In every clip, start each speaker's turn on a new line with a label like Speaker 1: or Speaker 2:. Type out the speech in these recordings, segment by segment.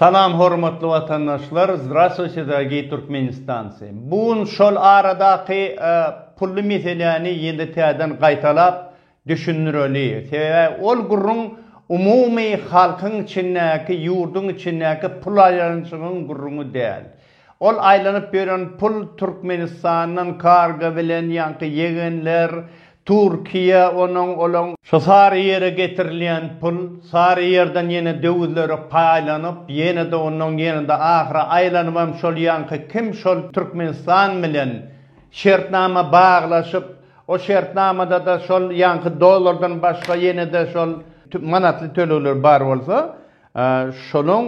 Speaker 1: Salam hormatly watandaşlar Zdrastwuyte dorogiý Türkmenistancy bu gün şol aradaky pully meseläni ýene täzeden gaýtalap düşündireli sebäbi ol gürrüň umumy halkyň içindäki ýurduň içindäki pul aýlanyşygyň gürrüňi däl Ol aýlanyp ýören pul Türkmenistandan karga bilen ýaňky ýegenler, Türkiýe, onuň, olaň. Şu Saryýere getirilýän pul, Saryýerden ýene döwüzlere paýlanyp, ýene-de ondan, ýene-de ahyry aýlanybam şol ýaňky kim şol Türkmenistan bilen şertnama baglaşyp, o şertnamada-da şol ýaňky dollardan başga ýene-de şol manatly tölegler bar bolsa, Şonuň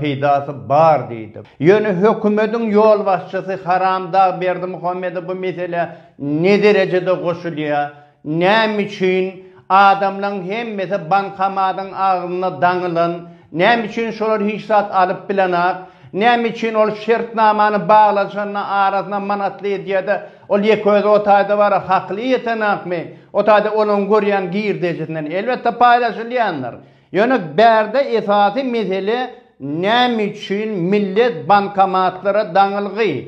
Speaker 1: peýdasy bar diýdi. Ýöne hökümetiň ýolbaşçysy Haramdag Berdimuhamedow bu meselä ne derejede goşulýar, näme üçin adamlaryň hemmesi bankomatyň agzynda daňylan, näme üçin şolar hiç zat alyp bilenak, näme üçin ol şertnamany baglaşanda arasyna manatly edýärde, ol ýeke özi o taýda bara hakyly ýetenakmy, o taýda olaryň görýän girdejisinden elbetde paýlaşylýandyr. Ýöne bärde esasy mesele näme üçin millet bankomatlara daňylgy?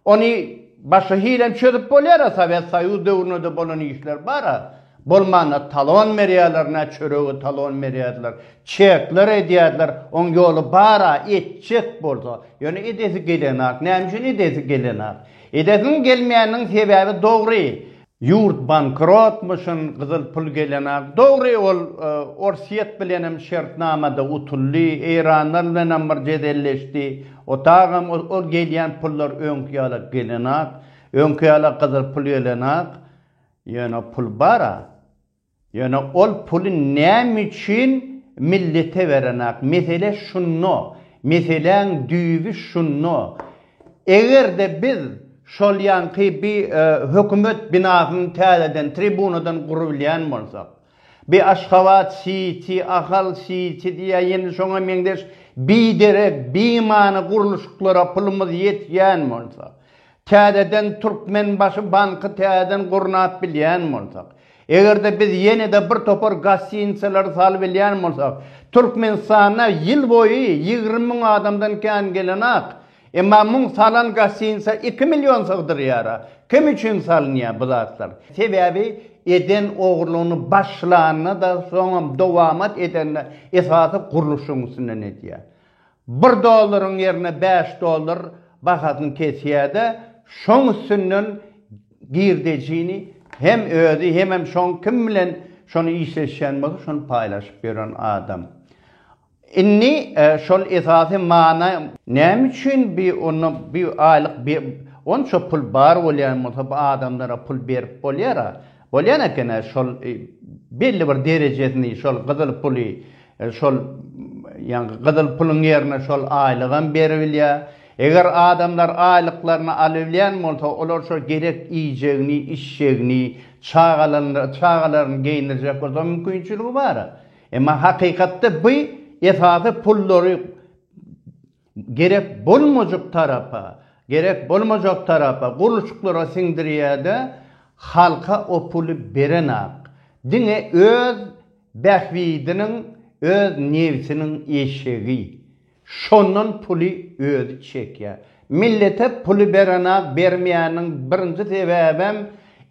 Speaker 1: Ony başga hilem çözüp bolýar-a, Sowet Soýuz döwründe-de bolan işler bar-a. Bolmanda talon berýärler, nä çöregi talon berýärdiler, çekler edýärdiler, oň ýoly bar-a, etjek bolsa. Ýöne edesi gelenok. Näme üçin edesi gelenok? Edesiniň gelmeýäniniň sebäbi dogry. Ýurt bankrotmyşyn gyzyl pul gelenag dogry ol orsýet bilenem şertnamada utuldy eýranlar bilenem bir jedelleşdi otagam ol gelýän pullar öňki ýala gelenag öňki ýala gyzyl pul gelenag ýöne pul bara. Ýöne ol puly näme üçin millete berenak? Mesele şunda. Meseläň düýbi şunda. Eger-de biz şol ýanky bi hökümet binasyny täzeden, tribunadan gurubilýän bolsak, bi Aşgabat Siti, Ahal Siti ýa ýene şoňa meňzeş biderek, bimany gurluşyklara pulumyz ýetýän bolsa, Täzeden Türkmenbaşy banky täzeden gurnap bilýän bolsak, eger-de biz ýene-de bir topar gostinitsalary salybilýän bolsak, Türkmenistanda ýyl boýy ýigrimi müň adamdan kän gelenok, emma muň salan gostinitsa iki million sygdyrýara. Kim üçin salynýar bu zatlar? Sebäbi eden ogurlygyny başlanda-da, soňam dowamat edende esasy gurluşyň üstünden edýär. Bir dollaryň ýerine bäş dollar bahasyny kesýärde şoň üstünden girdejini hem özi hemem şoň kim bilen şony işleşýän bolsa şony paýlaşyp ýören adam. Indi şol esasy mana näme üçin bi onda bi aýlyk bi onça pul bar bolýan bolsa bu adamlara pul berip bolýara. Bolýan ekena şol belli bir derejesini şol gyzyl puly şol ýaňky gyzyl puluň ýerine şol aýlygam beribilýär. Eger adamlar aýlyklaryny alybilýän bolsa olar şo gerek iýjegini, içjegini, çagalaryny çagalaryny geýindirjek bolsa mümkinçiligi bara. Emma hakykatda by esasy pullary Gerek bolmajyk tarapa, gerek bolmajak tarapa gurluşyklara siňdirýädä halka o puly berenak diňe öz bähbidiniň öz nebsiniň eşegi şondan puly özi çekýä millete puly berenak bermeýäniň birinji sebäbem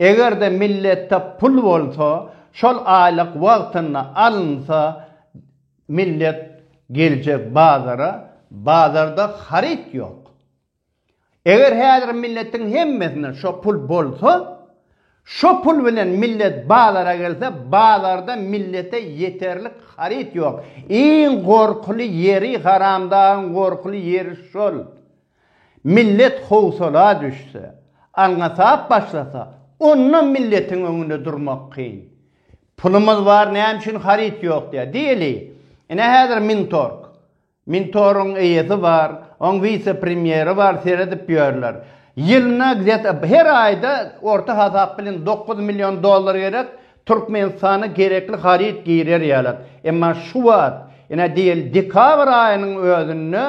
Speaker 1: egerde milletde pul bolsa şol aýlyk wagtynda alynsa Millet geljek bazara, bazarda haryt ýok. Eger häzir milletiň hemmesinde şo pul bolsa, şo pul bilen millet bazara gelse, bazarda millete ýeterlik haryt ýok. Iň gorkuly ýeri, haramdagyň gorkuly ýeri şol. Millet howsala düşse, alňasap başlasa, onda milletiň öňünde durmak kyn. Pulumyz bar näme üçin haryt ýok diýýär. Diýeli, ine häzir Mintorg. Mintoryň eýesi bar, oň wise-premýeri bar seredip ýörler. Ýylyna gzet her aýda orta hasap bilen dokuz million dollar gerek, Türkmenistana gerekli haryt girer ýaly. Emma şu wagt, ine diýeli dekabr aýynyň özünde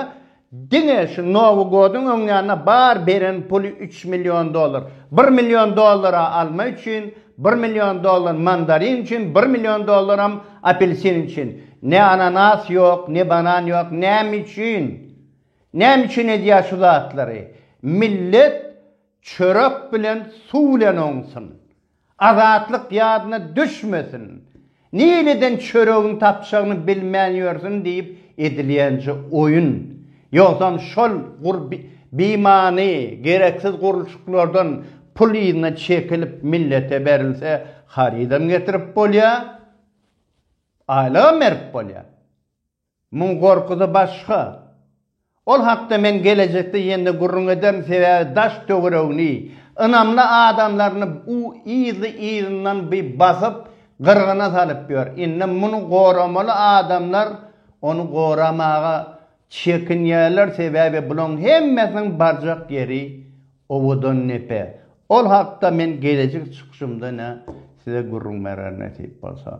Speaker 1: Diňe şu Nowy godyň öňýanyna bar beren puly üç million dollar. Bir million dollara alma üçin, bir million dollar mandarin üçin, bir million dollaram apelsin üçin. Ne ananas ýok, ne banan ýok. Näme üçin? Näme üçin edýär şu zatlary? Millet çörek bilen, suw bilen oňsun. Azatlyk ýadyna düşmesin. Nireden çöregiň tapjagyny bilmän ýörsün diýip edilýänje oýun. Ýogsam şol gur bimany, gereksiz gurluşyklardan pul yzyna çekilip millete berilse harydam getirip bolýar, aýlygam berip bolýar. Muň gorkusy başga. Ol hakda men gelejekde ýene-de gürrüň ederin, sebäbi daş-töweregini, ynamly adamlaryny u yzly-yzyndan bi basyp, gyrgyna salyp ýör. Indi muny goramaly adamlar ony goramaga çekinýärler, sebäbi bulaň hemmesiniň barjak ýeri Owadandepe. Ol hakda men gelejek çykyşymda-da size gürrüň bererin nesip bolsa.